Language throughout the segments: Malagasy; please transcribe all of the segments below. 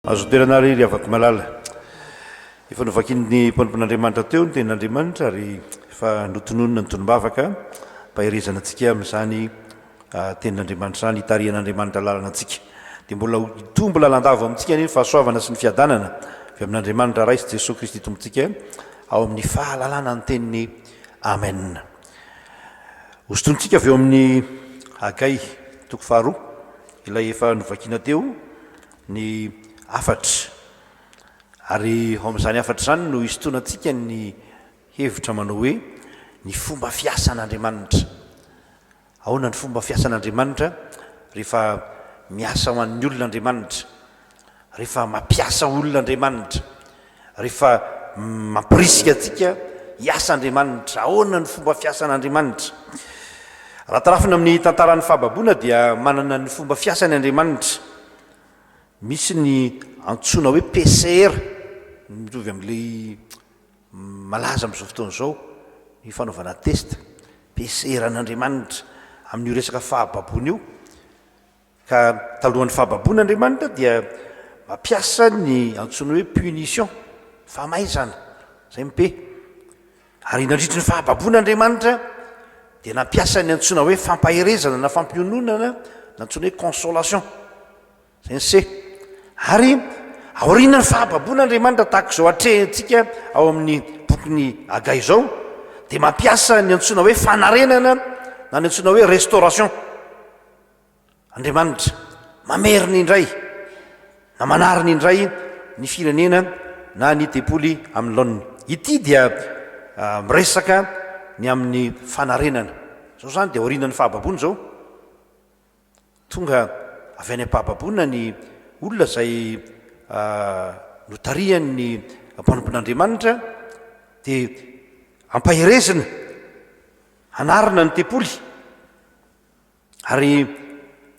Azo toerana ary ry havako malala. Efa novakin'ny mpanompon'Andriamanitra teo ny tenin'Andriamanitra ary efa notononina ny tonom-bavaka mba hiherezana antsika amin'izany tenin'Andriamanitra izany, hitarihan'Andriamanitra lalana antsika. Dia mbola ho hitombo lalandava ao amintsika anie ny fahasoavana sy ny fiadanana avy amin'Andriamanitra Ray sy Jesoa Kristy Tompontsika ao amin'ny fahalalana ny teniny. Amen. Hosintonintsika avy eo amin'ny Hagay toko faharoa, ilay efa novakina teo, ny hafatra. Ary ao amin'izany hafatra izany no hisintonantsika ny hevitra manao hoe ny fomba fiasan'Andriamanitra. Ahoana ny fomba fiasan'Andriamanitra rehefa miasa ho an'ny olona Andriamanitra? Rehefa mampiasa olona Andriamanitra, rehefa mampirisika antsika hiasa Andriamanitra, ahoana ny fomba fiasan' Andriamanitra? Raha tarafina amin'ny tantaran'ny fahababoana dia manana ny fomba fiasany Andriamanitra. Misy ny antsoina hoe PCR, mitovy amin'ilay malaza amin'izao fotoana izao, ny fanaovana test, PCR an'Andriamanitra amin'io resaka fahababoana io. Ka talohan'ny fahababoana Andriamanitra dia mampiasa ny antsoiny hoe punition, famaizana, izay ny pe. Ary nandritry ny fahababoana Andriamanitra dia nampiasa ny antsoina hoe fampaherezana na fampiononana na antsoina hoe consolation, izay ny se. Ary aorianan'ny fahababoana Andriamanitra tahaka izao atrehintsika ao amin'ny bokin'i Hagay izao dia mampiasa ny antsoina hoe fanarenana na ny antsoina hoe restauration. Andriamanitra mamerina indray na manarina indray ny firenena na ny tempoly amin'ny laoniny. Ity dia miresaka ny amin'ny fanarenana. Izao izany dia aorianan'ny fahababoana izao. Tonga avy any am-pahababoana ny olona izay notarihan'ny mpanompon'Andriamanitra dia ampaherezina hanarina ny tempoly. Ary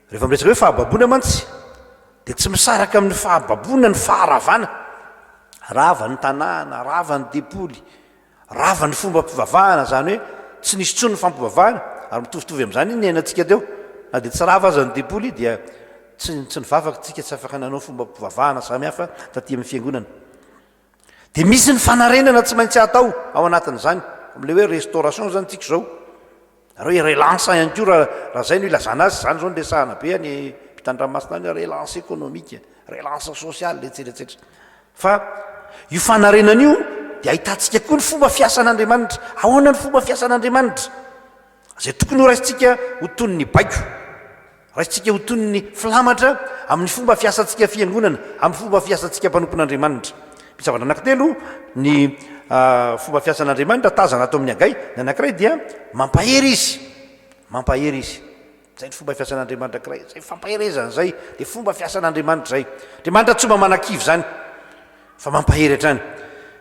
rehefa miresaka hoe fahababoana mantsy dia tsy misaraka amin'ny fahababoana ny faharavana. Rava ny tanàna, rava ny depoly, rava ny fombam-pivavahana, izany hoe tsy nisy intsony ny fampivavahana, ary mitovitovy amin'izany iny niainantsika teo, na dia tsy rava aza ny depoly dia tsy tsy nivavaka isika, tsy afaka nanao fombam-pivavahana samihafa taty amin'ny fiangonana. Dia misy ny fanarenana tsy maintsy atao ao anatin'izany, amin'ilay hoe restauration izany tsika izao. Nareo relance ihany koa raha raha izay no ilazana azy, izany izao no resahana be any ampitandranomasina any hoe relance économique, relance sociale etsetra etsetra. Fa io fanarenana io dia ahitantsika koa ny fomba fiasan'Andriamanitra. Ahoana ny fomba fiasan'Andriamanitra? Izay tokony horaisintsika ho toy ny baiko. Raisintsika ho toy ny filamatra amin'ny fomba fiasantsika fiangonana, amin'ny fomba fiasantsika mpanompon'Andriamanitra. Misy zavatra anankitelo ny fomba fiasan'Andriamanitra tazana ato amin'ny Hagay. Ny anankiray dia mampahery Izy, mampahery Izy. Izay ny fomba fiasan'Andriamanitra anankiray, izay fampaherezana izay, dia fomba fiasan'Andriamanitra izay. Andriamanitra tsy mba manakivy izany fa mampahery hatrany.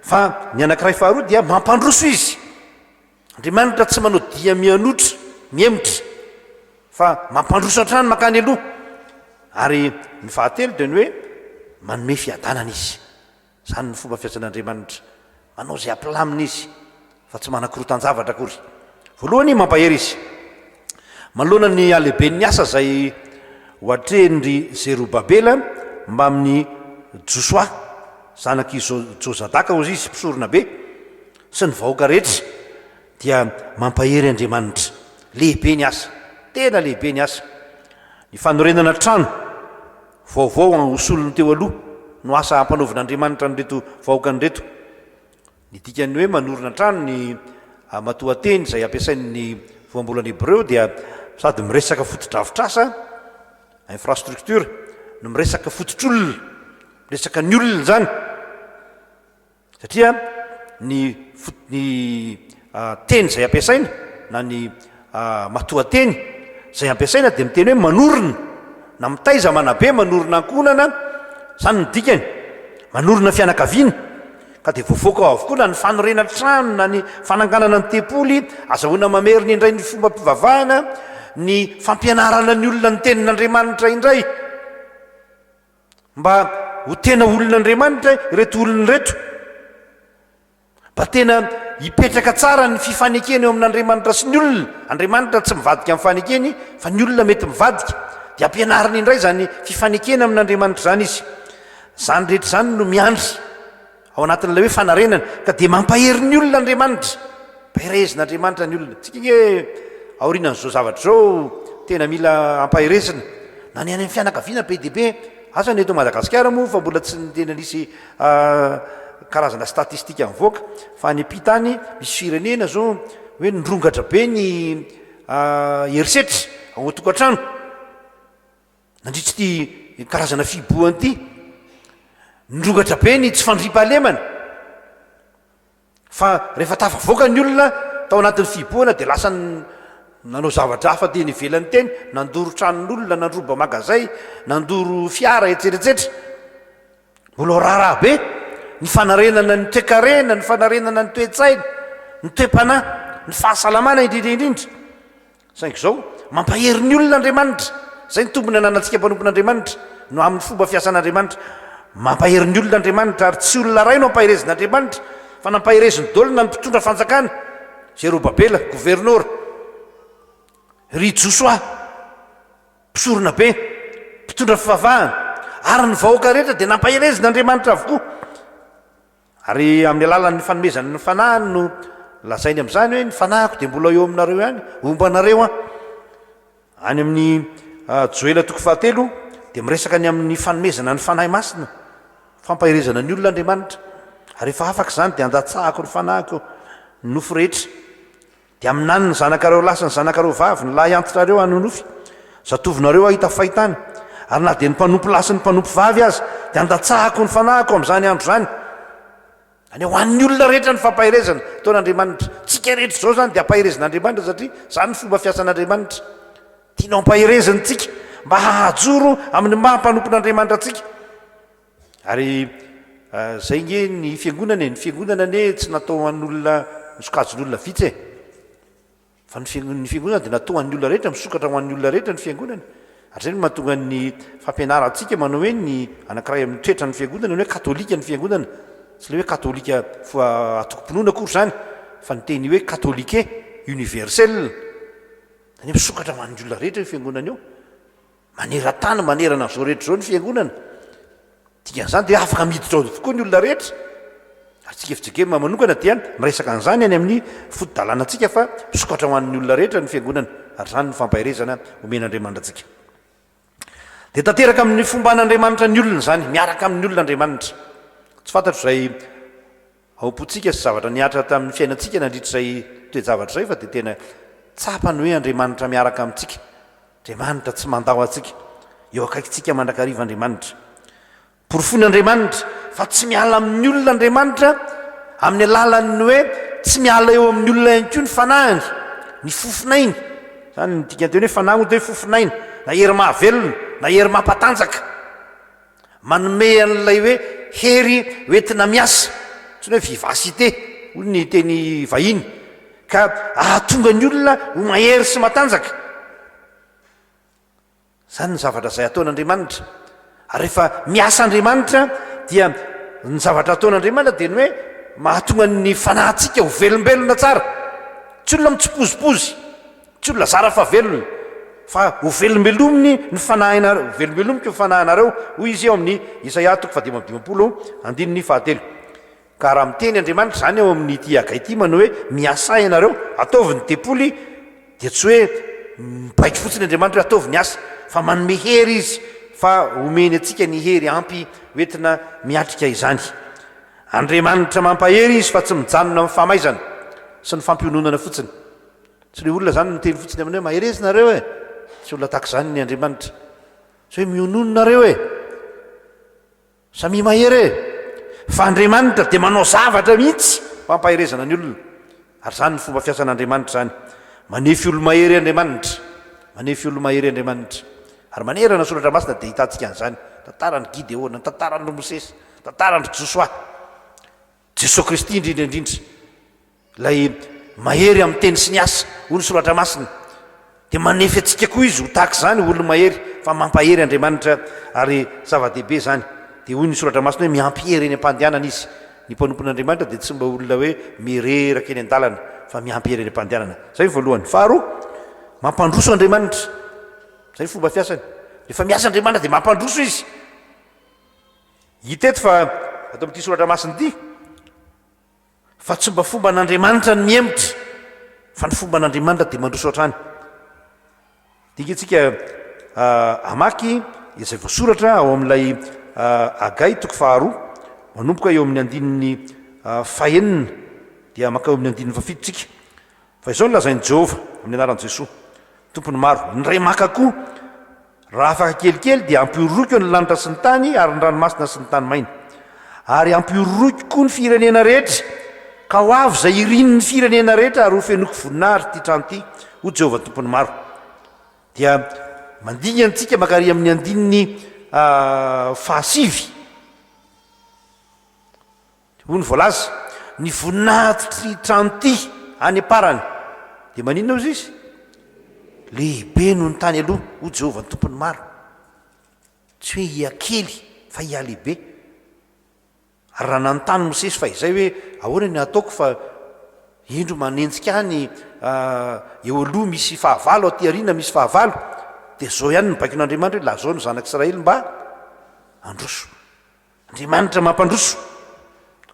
Fa ny anankiray faharoa dia mampandroso Izy. Andriamanitra tsy manao dia mianotra, mihemotra, fa mampandroso hatrany mankany aloha. Ary ny fahatelo dia ny hoe manome fiadanana Izy. Izany no fomba fiasan' Andriamanitra. Manao izay hampilamina Izy, fa tsy manakorotan-javatra akory. Voalohany, mampahery Izy. Manoloana ny halehiben' ny asa izay hoatrehin' ry Zerobabela mbamin' i Josoa, zanak' i Jozadaka, hoy Izy, mpisorona be, sy ny vahoaka rehetra dia mampahery Andriamanitra. Lehibe ny asa. Tena lehibe ny asa. Ny fanorenana trano vaovao ho solon'ny teo aloha no asa ampanaovin'Andriamanitra an'ireto vahoakany ireto. Ny dikan'ny hoe manorina trano ny matoanteny izay ampiasain'ny voambolana hebreo dia sady miresaka fotodrafitrasa, infrastructure, no miresaka fototr'olona, miresaka ny olona izany. Satria ny ny teny izay ampiasaina na ny matoanteny izay ampiasaina dia miteny hoe manorina na mitaiza manabe manorina ankohonana izany ny dikany manorina fianakaviana ka dia voafoaka ao avokoa na ny fanorenana trano na ny fananganana ny tempoly azahoana mamerina indray ny fombam-pivavahana ny fampianarana ny olona ny tenin'Andriamanitra indray Mba ho tena olon'Andriamanitra ireto olona ireto. Mba tena hipetraka tsara ny fifanekena eo amin'Andriamanitra sy ny olona. Andriamanitra tsy mivadika amin'ny fanekeny fa ny olona mety mivadika. Dia ampianariny indray izany fifanekena amin'Andriamanitra izany izy. Izany rehetra izany no miandry. Ao anatin'ilay hoe fanarenana ka dia mampahery ny olona Andriamanitra. Mpaherezin'Andriamanitra ny olona. Tsika ange aorianan'izao zavatra izao tena mila ampaherezina na ny any amin'ny fianakaviana be dia be. Asa ny eto Madagasikara moa fa mbola tsy tena nisy karazana statistika nivoaka fa any am-pita any misy firenena izao hoe nirongatra be ny herisetra ao an-tokantrano. Nandritra ity karazana fihibohana ity, nirongatra be ny tsy fandriampahalemana fa rehefa tafavoaka ny olona tao anatin'ny fihibohana dia lasa nanao zavatra hafa teny ivelany teny, nandoro tranon'olona, nandroba magazay, nandoro fiara, etseretsetra. Mbola ho raharaha be ny fanarenana ny toekarena, ny fanarenana ny toe-tsaina, ny toe-panahy, ny fahasalamana indrindra indrindra. Saingy izao, mampahery ny olona Andriamanitra. Izay ny tombony ananantsika mpanompon'Andriamanitra, no amin'ny fomba fiasan'Andriamanitra. Mampahery ny olona Andriamanitra, ary tsy olona iray no ampaherezin'Andriamanitra, fa nampahereziny daholo na ny mpitondra fanjakana, Zerobabela, governora, ry Josoa. Mpisoronabe, mpitondra fivavahana, ary ny vahoaka rehetra dia nampaherezin' Andriamanitra avokoa. Ary amin' ny alalan' ny fanomezany ny Fanahiny no lazainy amin' izany hoe, Ny Fanahiko dia mbola eo aminareo ihany, homba anareo Aho. Any amin' ny Joela toko fahatelo dia miresaka ny amin' ny fanomezana ny Fanahy Masina, fampaherezana ny olona Andriamanitra, Ary rehefa afaka izany dia andatsahako ny Fanahiko eo ny nofo rehetra. Dia aminany ny zanakareo lahy sy ny zanakareo vavy, ny lahy antitrareo hanonofy, zatovinareo hahita fahitana, ary na dia ny mpanompo lahy sy ny mpanompo vavy aza, dia handatsahako ny fanahiko amin'izany andro izany. Izany hoe ho an'ny olona rehetra ny fampaherezana ataon'Andriamanitra. Tsika rehetra izao izany dia ampaherezin'Andriamanitra satria izany ny fomba fiasan'Andriamanitra. Tiany ho ampahereziny tsika mba hahajoro amin'ny maha mpanompon'Andriamanitra antsika. Ary izay nge ny fiangonana e, ny fiangonana anie tsy natao an'olona misokajin'olona vitsy e, fa ny fiangonana dia natao an'ny olona rehetra, misokatra ho an'ny olona rehetra ny fiangonana, ary izay no mahatonga ny fampianarantsika manao hoe ny anankiray amin'ny toetran'ny fiangonana ny hoe katolika ny fiangonana, tsy ilay hoe katolika atokom-pinoana akory izany, fa ny teny hoe katolike, universel, izany hoe misokatra ho an'ny olona rehetra io fiangonana io. Maneran-tany manerana an'izao rehetra izao ny Fiangonana. Dikan'izany dia afaka miditra ao avokoa ny olona rehetra. Ary tsika FJKM manokana dia miresaka an'izany any amin'ny fotodalànantsika fa misokatra ho an'ny olona rehetra ny Fiangonana ary izany no fampaherezana omen'Andriamanitra antsika. Dia tanteraka amin'ny fomba an'Andriamanitra ny olona izany, miaraka amin'ny olona Andriamanitra. Tsy fantatro izay. Ao am-pontsika sy zavatra nihatra tamin'ny fiainantsika nandritra izay toe-javatra izay fa dia tena tsapany hoe Andriamanitra miaraka amintsika. Andriamanitra tsy mandao antsika. Eo akaikintsika mandrakariva Andriamanitra. Porofoin'Andriamanitra fa tsy miala amin'ny olona Andriamanitra amin'ny alalan'ny hoe tsy miala eo amin'ny olona ihany koa ny fanahiny, ny fofon'ainy. Izany no dikan'ny teny hoe fanahy moa dia hoe fofon'aina, na hery mahavelona, na hery mampatanjaka. Manome an'ilay hoe hery hoentina miasa, antsoina hoe vivacité hoy ny teny vahiny, ka ahatonga ny olona ho mahery sy matanjaka. Izany ny zavatra izay ataon'Andriamanitra. Ary rehefa miasa Andriamanitra dia ny zavatra ataon'Andriamanitra dia ny hoe mahatonga ny fanahintsika ho velombelona tsara. Tsy olona mitsipozipozy, Tsy ho lazara fa velona, fa hovelombelominy ny fanahinareo, hovelombelomiko ny fanahinareo, hoy Izy eo amin'ny Isaia toko fahadimy amby dimampolo, andininy fahatelo. Ka raha miteny Andriamanitra izany ao amin'ity Hagay ity manao hoe, Miasà ianareo, ataovy ny tempoly, dia tsy hoe mibaiko fotsiny Andriamanitra hoe ataovy ny asa, fa manome hery Izy, fa homeny antsika ny hery ampy hoentina miatrika izany. Andriamanitra mampahery Izy fa tsy mijanona amin'ny famaizana sy ny fampiononana fotsiny. Tsy le olona zany miteny fotsiny aminy hoe mahereza nareo e! Tsy olona tahaka zany ny Andriamanitra. Tsy hoe mionono nareo e! Samia mahery e! Fa Andriamanitra dia manao zavatra mihitsy ho ampaherezana ny olona. Ary zany ny fomba fiasan' Andriamanitra zany. Manefy olo-mahery Andriamanitra. Manefy olo-mahery Andriamanitra. Ary manerana ny Soratra Masina dia ahitantsika an'izany. Tantaran-dry Gideona, tantaran-dry Mosesy, tantaran-dry Josoa. Jesoa Kristy indrindra indrindra, Ilay mahery amin'ny teny sy ny asa, hoy ny Soratra Masina, dia manefy antsika koa Izy ho tahaka izany, ho olo-mahery, fa mampahery Andriamanitra, ary zava-dehibe izany. Dia hoy ny Soratra Masina hoe mihampihery eny am-pandehanana Izy. Ny mpanompon'Andriamanitra dia tsy mba olona hoe mireraka eny an-dalana, fa mihampihery eny am-pandehanana. Izay ny voalohany. Faharoa, mampandroso Andriamanitra. Izay ny fomba fiasany. Rehefa miasa Andriamanitra dia mampandroso Izy. Hita eto fa, ato amin'ity soratra masina ity, fa tsy mba fomban'Andriamanitra ny mihemotra, fa ny fomban'Andriamanitra dia mandroso hatrany. Dinika antsika hamaky izay voasoratra ao amin'ilay Agay toko faharoa, manomboka eo amin'ny andininy fahenina dia mankao amin'ny andininy fahafito tsika. Fa izao no lazain'i Jehovah, amin'ny anaran'i Jesoa, Tompon'ny maro, ny Ray maka koa, Raha afaka kelikely dia ampihoroiko ny lanitra sy ny tany ary ny ranomasina sy ny tany maina. Ary ampihoroiko koa ny firenena rehetra, ka ho avy izay irin' ny firenena rehetra ary hofenoiko voninahitra ity trano ity, hoy Jehovah Tompon'ny maro. Dia mandingana isika mankary amin'ny andininy fahasivy. Hoy ny voalaza, Ny voninahitry trano'ty any am-parany dia maninona hozy izy? Lehibe noho ny tany aloha, hoy Jehovah ny Tompon'ny maro. Tsy hoe hihakely fa hihalehibe. Ary raha nanontany Mosesy fahizay hoe, Ahoana ny hataoko fa indro manenjika ahy ny eo aloha misy fahavalo, aty aoriana misy fahavalo, dia izao ihany no baikoin'Andriamanitra hoe, Lazao ny zanak'Israely mba handroso. Andriamanitra mampandroso.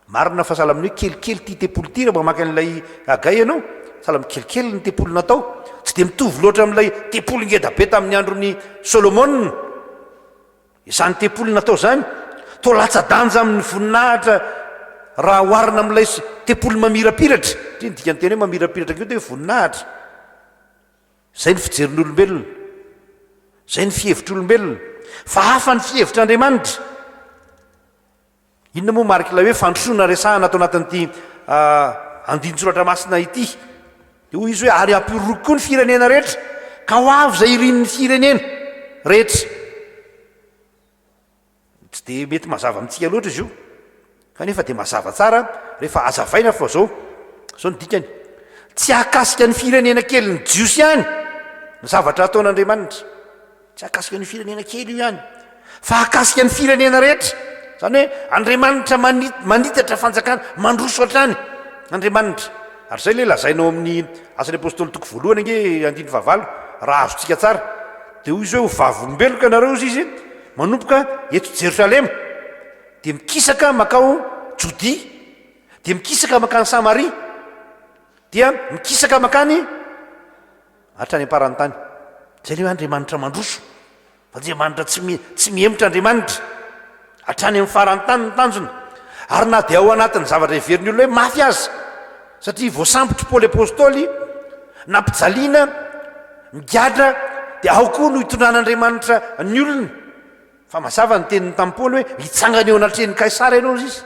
Marina fa sahala amin'ny hoe kelikely ity tempoly ity raha vao maka an'ilay Hagay ianao, sahala amin'ny kelikely ny tempoly natao. Tsy dia mitovy loatra amin'ilay tempoly ngeda be tamin'ny andron'i Solomona izany tempoly natao izany. Toa latsa-danja amin'ny voninahitra raha oharina amin'ilay tempoly mamirapiratra, satria ny dikan'ny teny hoe mamirapiratra koa dia hoe voninahitra. Izay ny fijerin'olombelona. Izay ny fihevitr'olombelona. Fa hafa ny fihevitr'Andriamanitra. Inona moa mariky ilay hoe fandrosoana resahana ato anatin'ity andinin-tsoratra masina ity? Dia hoy izy hoe, Ary hampiororoko koa ny firenena rehetra, ka ho avy izay irin'ny firenena rehetra. Tsy dia mety mazava amintsika loatra izy io, kanefa dia mazava tsara rehefa hazavaina fa izao, izao ny dikany, Tsy hahakasika an'ny firenena kelin'ny Jiosy ihany ny zavatra hataon'Andriamanitra, tsy hahakasika an'io firenena kely io ihany, fa hahakasika ny firenena rehetra, izany hoe Andriamanitra manitatra fanjakana, mandroso hatrany Andriamanitra. Ary izay ilay lazaina ao amin'ny Asan'ny Apôstôly toko voalohany ange andininy fahavalo, raha azontsika tsara, dia hoy izy hoe, Ho vavolombeloko ianareo, hoy izy, Manomboka eto Jerosalema, dia mikisaka mankao Jodia, dia mikisaka mankany Samaria, dia mikisaka mankany hatrany am-paran'ny tany. Izay ilay hoe Andriamanitra mandroso, fa Andriamanitra tsy mi- tsy mihemotra Andriamanitra. Hatrany amin'ny faran'ny tany ny tanjona. Ary na dia ao anatin'ny zavatra heverin'ny olona hoe mafy aza, Satria voasambotry Paoly Apostoly, nampijaliana, migadra, dia ao koa no hitondran'Andriamanitra ny olony. Fa mazava ny teniny tamin'i Paoly hoe, hitsangana eo anatrehan'i Kaisara ianao, hoy izy.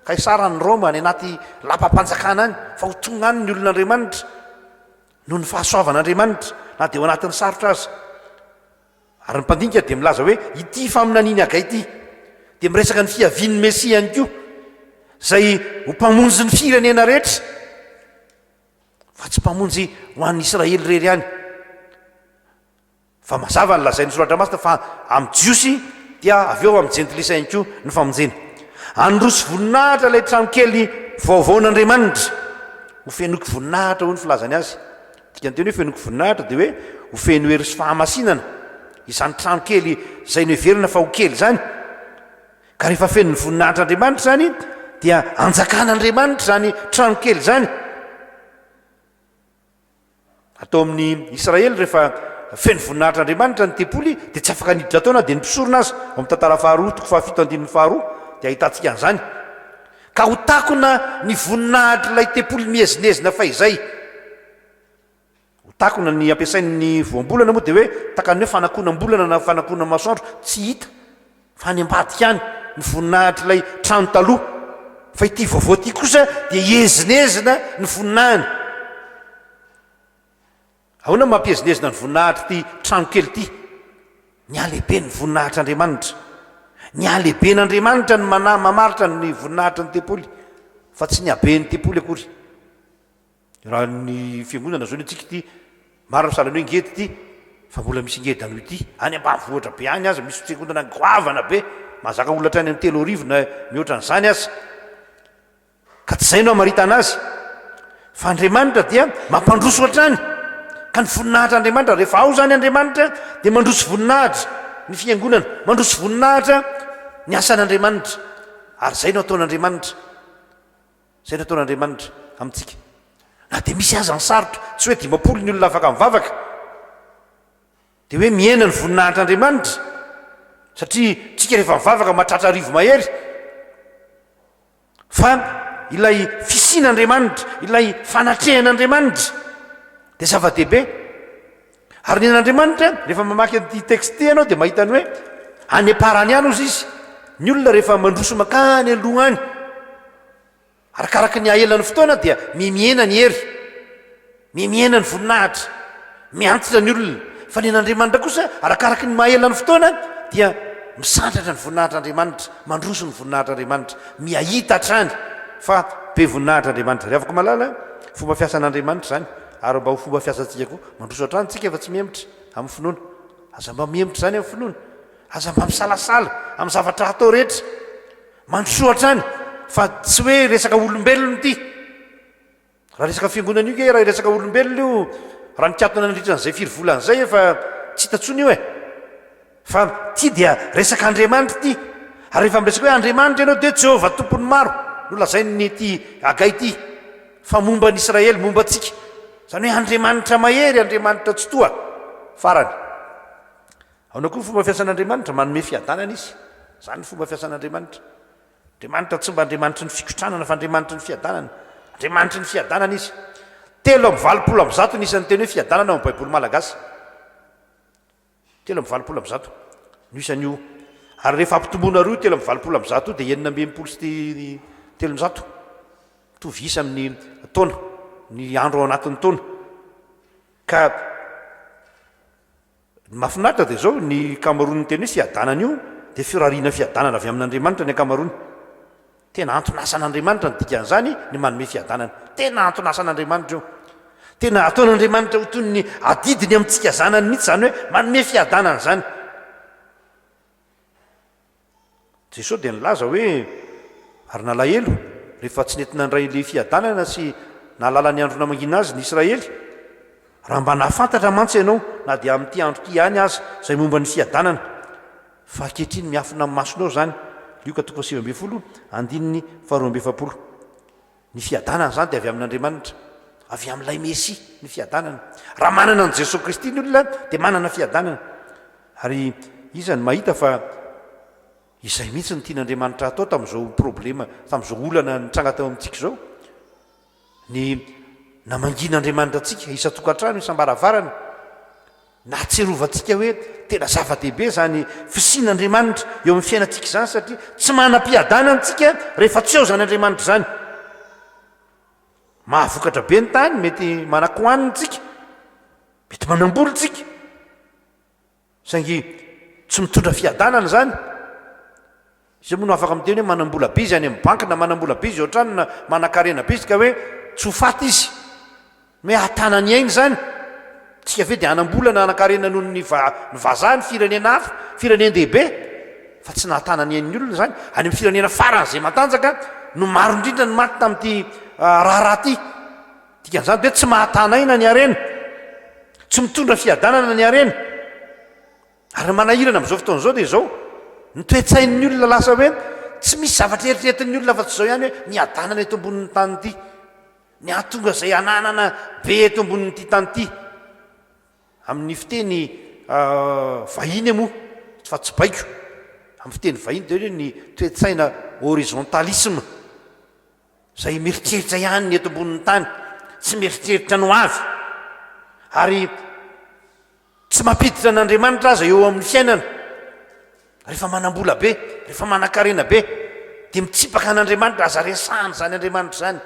Kaisara any Roma, any anaty lapam-panjakana any, fa ho tonga any ny olon'Andriamanitra, noho ny fahasoavan'Andriamanitra, na dia ao anatin'ny sarotra aza. Ary ny mpandinika dia milaza hoe ity faminanian'i Hagai ity dia miresaka ny fiavian'ny Mesia ihany koa, izay ho Mpamonjy ny firenena rehetra, fa tsy Mpamonjy ho an'ny Israely irery ihany. Fa mazava ny lazain'ny Soratra Masina fa amin'ny Jiosy dia avy eo amin'ny Jentilisa ihany koa ny famonjena. Handroso voninahitra ilay tranokely vaovaon'Andriamanitra. Hofenoiko voninahitra, hoy ny filazany azy. Dikanteny hoe fenoko voninahitra dia hoe ho feno hery sy fahamasinana izany trano kely izay noheverina fa ho kely izany. Ka rehefa fenon'ny voninahitr'Andriamanitra izany dia anjakan'Andriamanitra izany trano kely izany. Atao amin'ny Israely rehefa feno voninahitr'Andriamanitra ny tempoly dia tsy afaka niditra tao na dia ny mpisorona aza. Ao amin'ny Tantara faharoa toko fahafito andininy faharoa dia ahitantsika an'izany. Ka ho takona ny voninahitr'ilay tempoly miezinezina fahizay. Ho takona ny ampiasain'ny voambolana moa dia hoe takan'ny hoe fanakonam-bolana na fanakonam-masoandro tsy hita, fa any ambadika any, ny voninahitr'ilay trano taloha. Fa ity vaovao ity kosa dia iezinezina ny voninahiny. Ahoana no mampihezinezina ny voninahitr'ity tranokely ity? Ny halehibe ny voninahitr'Andriamanitra. Ny halehiben'Andriamanitra no manahy mamaritra ny voninahitry ny tempoly, fa tsy ny haben'ny tempoly akory. Raha ny fiangonana izao ny antsika ity, marina ny sahalan'ny hoe ngeda ity, fa mbola misy ngeda noho ity. Any ambanivohitra be any aza, misy fiangonana goavana be, mahazaka olona hatrany amin'ny telo arivo na mihoatra an'izany aza. Ka tsy izay no hamaritana azy fa Andriamanitra dia mampandroso hatrany ka ny voninahitr' Andriamanitra rehefa ao izany Andriamanitra dia mandroso voninahitra ny fiangonana, mandroso voninahitra ny asan' Andriamanitra ary izay no ataon' Andriamanitra, izay no ataon' Andriamanitra amintsika na dia misy aza ny sarotra, tsy hoe dimampolo ny olona afaka mivavaka dia hoe mihena ny voninahitr' Andriamanitra satria tsika rehefa mivavaka mahatratra arivo mahery. Fa ilay fisian'Andriamanitra, ilay fanatrehan'Andriamanitra dia zava-dehibe. Ary ny an'Andriamanitra, rehefa mamaky an'ity texte ity ianao dia mahita ny hoe any am-parany any hozy izy. Ny olona rehefa mandroso mankany aloha any, arakaraky ny aelan'ny fotoana dia mihena ny hery. Mihena ny voninahitra, miantitra ny olona, fa ny an'Andriamanitra kosa, arakaraka ny maha-ela ny fotoana, dia misandratra ny voninahitr'Andriamanitra, mandroso ny voninahitr'Andriamanitra, miha-hita hatrany fa be voninahitra Andriamanitra. Ry havako malala, fomba fiasan'Andriamanitra izany, ary mba ho fomba fiasantsika koa. Mandroso hatrany isika fa tsy mihemotra amin'ny finoana. Aza mba mihemotra izany amin'ny finoana. Aza mba misalasala amin'ny zavatra hatao rehetra. Mandrosoa hatrany fa tsy hoe resaka olombelona ity. Raha resaka fiangonana io kay raha hiresaka olombelona io raha nikatona nandritra an'izay firy volana izay efa tsy hita tsony io e! Fa ty dia resaka Andriamanitra ity ary rehefa miresaka hoe Andriamanitra ianao dia Jehovah Tompon'ny maro no lazain'ity Hagay ity fa momba an'i Israely, momba antsika. Izany hoe Andriamanitra mahery, Andriamanitra tsitoha. Farany. Ahoana koa ny fomba fiasan'Andriamanitra? Manome fiadanana izy. Izany ny fomba fiasan'Andriamanitra. Andriamanitra tsy mba Andriamanitry ny fikotranana fa Andriamanitry ny fiadanana. Andriamanitry ny fiadanana Izy. Telo amby valopolo amby zato ny isan'ny teny hoe fiadanana ao amin'ny Baiboly malagasy. Telo amby valopolo amby zato no isan'io. Ary rehefa ampitomboinareo io telo amby valopolo amby zato io dia enina amby enimpolo sy telonjato. Mitovy isa amin'ny taona, ny andro ao anatin'ny taona. Ka. Ny mahafinaritra dia izao, ny ankamaroan'ny teny hoe fiadanana io dia firariana fiadanana avy amin'Andriamanitra ny ankamaroany. Tena anton'asan'Andriamanitra ny dikan'izany, ny manome fiadanana. Tena anton'asan'Andriamanitra io. Tena ataon'Andriamanitra ho toy ny adidiny amintsika zanany mihitsy izany hoe manome fiadanana izany. Jesoa dia nilaza hoe, Ary nalahelo, rehefa tsy nety nandray ilay fiadanana sy nahalala ny andro namangiana azy ny Israely. Raha mba nahafantatra mantsy ianao, na dia amin'ity andro ity ihany aza, izay momba ny fiadanana, fa ankehitriny miafina amin'ny masonao izany. Lioka toko fahasivy ambin'ny folo, andininy faharoa amby efapolo. Ny fiadanana izany dia avy amin'Andriamanitra, avy amin'ilay Mesia ny fiadanana. Raha manana an'i Jesoa Kristy ny olona dia manana fiadanana. Ary iza no mahita fa izay mihitsy no tian'Andriamanitra hatao tamin'izao problema, tamin'izao olana nitranga teo amintsika izao? Ny namangian'Andriamanitra antsika isan-tokantrano, isam-baravarana, Nahatsiarovantsika hoe tena zava-dehibe izany fisian'Andriamanitra eo amin'ny fiainantsika izany satria tsy manam-piadana antsika rehefa tsy ao izany Andriamanitra izany. Mahavokatra be ny tany, mety manakohanina antsika, mety manambola antsika, saingy tsy mitondra fiadanana izany. Izay moa no afaka miteny hoe manam-bola be izy any amin'ny banky na manam-bola be izy eo an-trano na manan-karena be izy ka hoe tsy ho faty izy. Ny hoe hahatana ny ainy izany, tsika ve dia hanam-bola na hanan-karena noho ny vazaha ny firenena hafa, firenen-dehibe, fa tsy nahatana ny ain'ny olona izany. Any amin'ny firenena faran'izay matanjaka no maro indrindra ny maty tamin'ity raharaha ity. Dikan'izany dia hoe tsy mahatana aina ny harena, tsy mitondra fiadanana ny harena. Ary ny manahirana amin'izao fotoana izao dia izao, ny toe-tsain'ny olona lasa hoe tsy misy zavatra eritreretin'ny olona afa-tsy izao ihany hoe miadanana eto ambonin'ny tany ity, ny hahatonga izay hananana be eto ambonin'ity tany ity. Amin'ny fiteny vahiny moa, fa tsy baiko, amin'ny fiteny vahiny dia hoe ny toe-tsaina horizontalisme, izay mieritreritra ihany ny eto ambonin'ny tany, tsy mieritreritra ny ho avy. Ary. Tsy mampiditra an' Andriamanitra aza eo amin' ny fiainana. Rehefa manam-bola be, rehefa manan-karena be, dia mitsipaka an' Andriamanitra. Aza resahana izany Andriamanitra izany.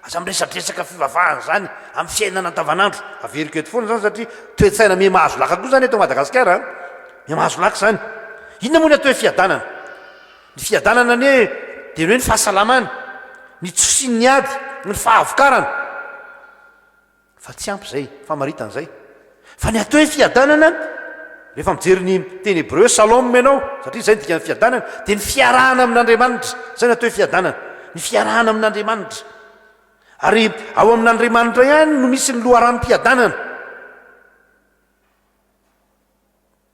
Aza miresadresaka fivavahana izany amin' ny fiainana andavan' andro. Averiko eto foana izany satria toe-tsaina miha mahazo laka koa izany eto Madagasikara an! Miha mahazo laka izany. Inona moa ny atao hoe fiadanana? Ny fiadanana anie dia ny hoe ny fahasalamana, ny tsy fisian' ny ady, ny fahavokarana. Fa tsy ampy izay, famaritana izay fa ny atao hoe fiadanana, rehefa mijery ny teny hebreo shalom ianao, satria izay no dikan'ny fiadanana, dia ny fiarahana amin'Andriamanitra, izay no atao hoe fiadanana, ny fiarahana amin'Andriamanitra. Ary ao amin'Andriamanitra ihany no misy ny loharanom-piadanana.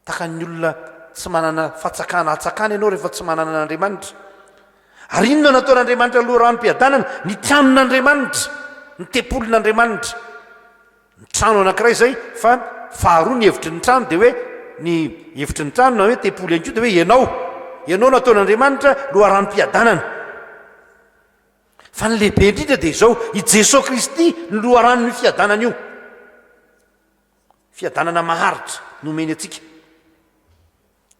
Takan'ny olona tsy manana fatsakana hatsakana ianao rehefa tsy manana an'Andriamanitra. Ary inona no ataon'Andriamanitra loharanom-piadanana? Ny tranon'Andriamanitra, ny tempolin'Andriamanitra. Ny trano anankiray izay, fa faharoa ny hevitry ny trano dia hoe, ny hevitry ny trano na hoe tempoly ihany koa dia hoe ianao. Ianao no ataon'Andriamanitra loharanom-piadanana. Fa ny lehibe indrindra dia izao, i Jesoa Kristy no loharanon'io fiadanana io. Fiadanana maharitra no omeny antsika,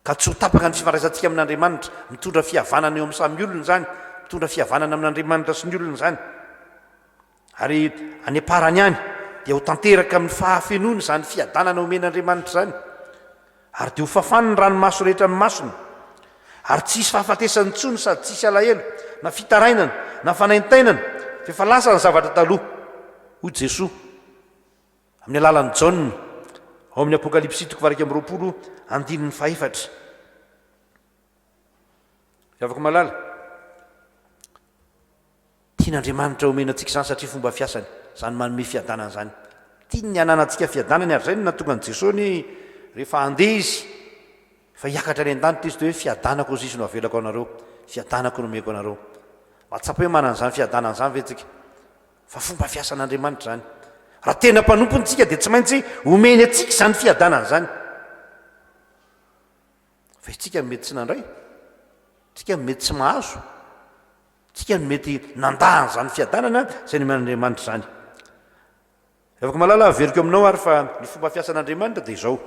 ka tsy ho tapaka ny fifandraisantsika amin'Andriamanitra. Mitondra fihavanana eo amin'ny samy olona izany, mitondra fihavanana amin'Andriamanitra sy ny olona izany. Ary any am-parany any, dia ho tanteraka amin'ny fahafenoana izany fiadanana omen'Andriamanitra izany, ary dia ho fafany ny ranomaso rehetra amin'ny masony, ary tsy hisy fahafatesana intsony sady tsy hisy alahelo, na fitarainana, na fanaintainana, fa efa lasa ny zavatra taloha, hoy Jesoa. Amin'ny alalan'i Jaona, ao amin'ny Apokalypsy toko faha-iraika amby roapolo, andininy faha-efatra. Ry havako malala, tian'Andriamanitra omena antsika izany satria fomba fiasany izany manome fiadanana izany. Tiany ny hananantsika fiadanany ary izay no nahatonga an'i Jesoa ny hoe rehefa handeha Izy, rehefa hiakatra any an-danitra Izy dia hoe fiadanako izisy no avelako anareo, fiadanako no omeko anareo. Mahatsapa hoe manana an'izany fiadanana izany ve isika? Fa fomba fiasan'Andriamanitra izany. Raha tena mpanompony isika dia tsy maintsy omeny antsika izany fiadanana izany. Fa isika no mety tsy nandray, isika no mety tsy mahazo, isika no mety nandà an'izany fiadanana izay nomen'Andriamanitra izany. Revako malala averiko aminao ary fa ny fomba fiasan'Andriamanitra dia izao.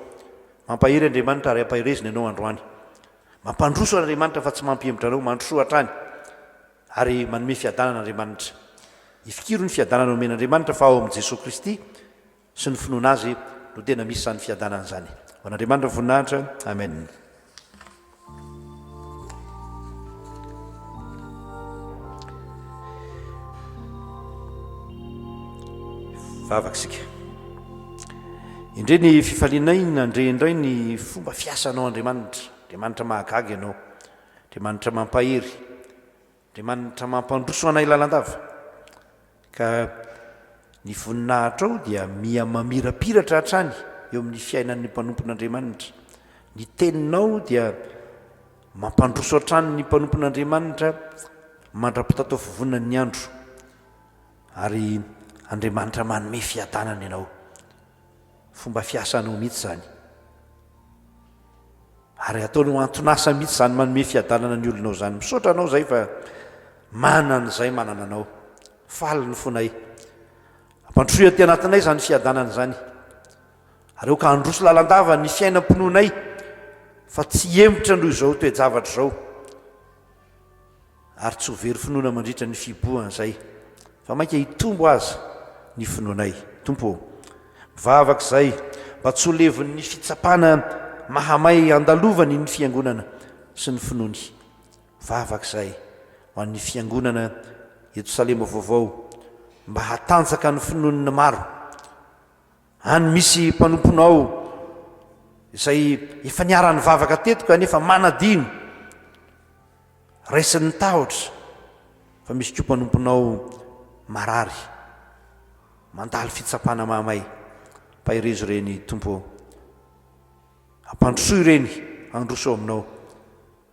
Mampahery Andriamanitra ary ampaherezina ianao androany. Mampandroso Andriamanitra fa tsy mampihemotra anao, mandrosoa hatrany. Ary manome fiadanana Andriamanitra. Ifikiro ny fiadanana omen' Andriamanitra fa ao amin' i Jesoa Kristy sy ny finoana Azy no tena misy izany fiadanana izany. Ho an' Andriamanitra ny voninahitra. Amen. Vavaka isika. Indre ny fifalianay nandre indray ny fomba fiasanao Andriamanitra. Andriamanitra mahagaga ianao. Andriamanitra mampahery, Andriamanitra mampandroso anay lalandava, ka ny voninahitrao dia miha mamirapiratra hatrany eo amin'ny fiainan'ny mpanompon'Andriamanitra, ny teninao dia mampandroso hatrany ny mpanompon'Andriamanitra mandra-pitataofovoanan'ny andro, ary Andriamanitra manome fiadanana ianao. Fomba fiasanao mihitsy izany. Ary ataonao anton'asa mihitsy izany manome fiadanana ny olonao izany. Misaotra anao izay fa manana izay manana anao. Faly ny fonay. Ampandrosoy aty anatinay izany fiadanana izany. Ary aoka handroso lalandava ny fiainam-pinoanay fa tsy hihemotra noho izao toe-javatra izao. ary tsy ho very finoana mandritra ny fihibohana izay, fa mainka hitombo aza ny finoanay. Tompo ô, mivavaka izahay mba tsy ho levon'ny fitsapana mahamay andalovany ny Fiangonana sy ny finoany. Mivavaka izahay ho an'ny Fiangonana eto Salema Vaovao mba hatanjaka ny finoan'ny maro. Any misy mpanomponao izay efa niara-nivavaka teto kanefa manadino, raisin'ny tahotra fa misy koa mpanomponao marary, mandalo fitsapana mahamay, paherezo ireny Tompo ô! Ampandrosoy ireny handroso ao Aminao.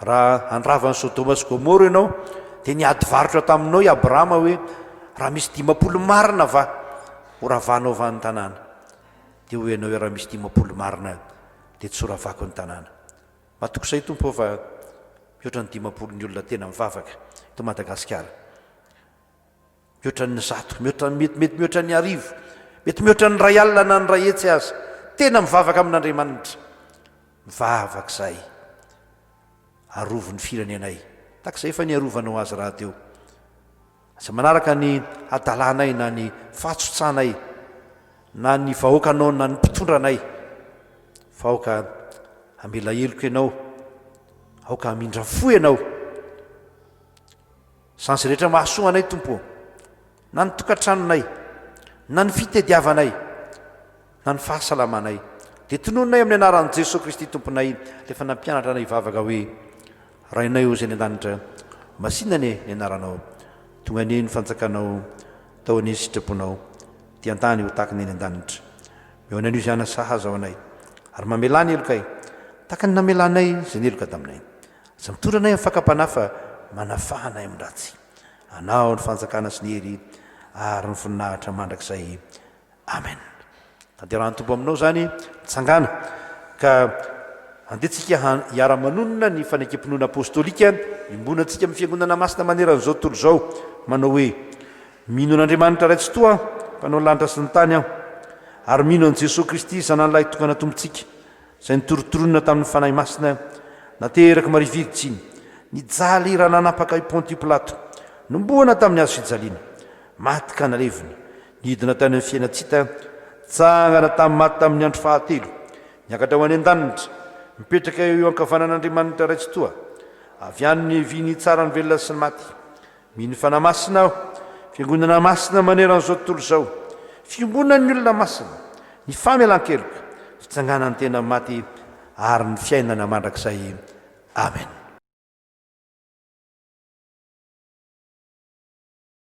Raha handrava an'i Sodoma sy Gomora ianao, dia niady varotra taminao i Abrahama hoe, Raha misy dimampolo marina va ho ravahanao va ny tanàna? Dia hoy ianao hoe, Raha misy dimampolo marina, dia tsy ho ravako ny tanàna. Matokisa i Tompo fa mihoatra ny dimampolo ny olona tena mivavaka eto Madagasikara. Mihoatra ny zato, mihoatra ny mety, mety mihoatra ny arivo, mety mihoatra ny iray alina na ny iray hetsy aza, tena mivavaka amin'Andriamanitra. Mivavaka izahay. Arovy ny firenenay, tahaka izay efa niarovanao azy rahateo. Aza manaraka ny hadalanay na ny fahatsotsanay, na ny vahoakanao na ny mpitondra anay, fa aoka hamela heloka ianao, aoka hamindra fo ianao. Sazy rehetra mahasoa anay Tompo ô, na ny tokantranonay, na ny fitediavanay, na ny fahasalamanay, dia tonononay amin'ny anaran'i Jesoa Kristy Tomponay ilay efa nampianatra anay hivavaka hoe, Rainay ô izay any an-danitra, masina anie ny anaranao, tonga anie ny fanjakanao, atao anie ny sitraponao, dia an-tany ho tahaka ny any an-danitra. Mihaona an'io izany, sahaza ho anay, ary mamelà ny helokay, tahaka ny namelanay izay ny heloka taminay. Tsy mitondra anay amin'ny fakam-panahy fa manafaha anay amin'ny ratsy. Anao ny fanjakana sy ny hery ary ny voninahitra mandrakizay. Amen. Tanterahany Tompo aminao izany mitsangana ka andeha tsika hiara-manonona ny fanekempinoana apostolika iombonantsika amin'ny Fiangonana Masina maneran'izao tontolo izao manao hoe, Mino an'Andriamanitra Ray Tsitoha mpanao ny lanitra sy ny tany aho ary mino an'i Jesoa Kristy Zanany Lahitokana Tompontsika. izay nitorontoronina tamin'ny Fanahy Masina naterak'i Maria Virjiny, nijaly raha nanapaka i Pontios Pilato, nomboana tamin'ny hazo fijaliana, maty ka nalevina, nidina tany amin'ny fiainan-tsita, nitsangana tamin'ny maty tamin'ny andro fahatelo, niakatra ho any an-danitra, mipetraka eo ankavanan'Andriamanitra Ray Tsitoha, avy any ny vy nitsara ny velona sy ny maty. Mino Fanahy Masina aho. Fiangonana masina maneran'izao tontolo izao. Fiombonan'ny olona masina. Ny famelan-keloka. Fitsanganan'ny tena amin'ny maty ary ny fiainana mandrakizay. Amen.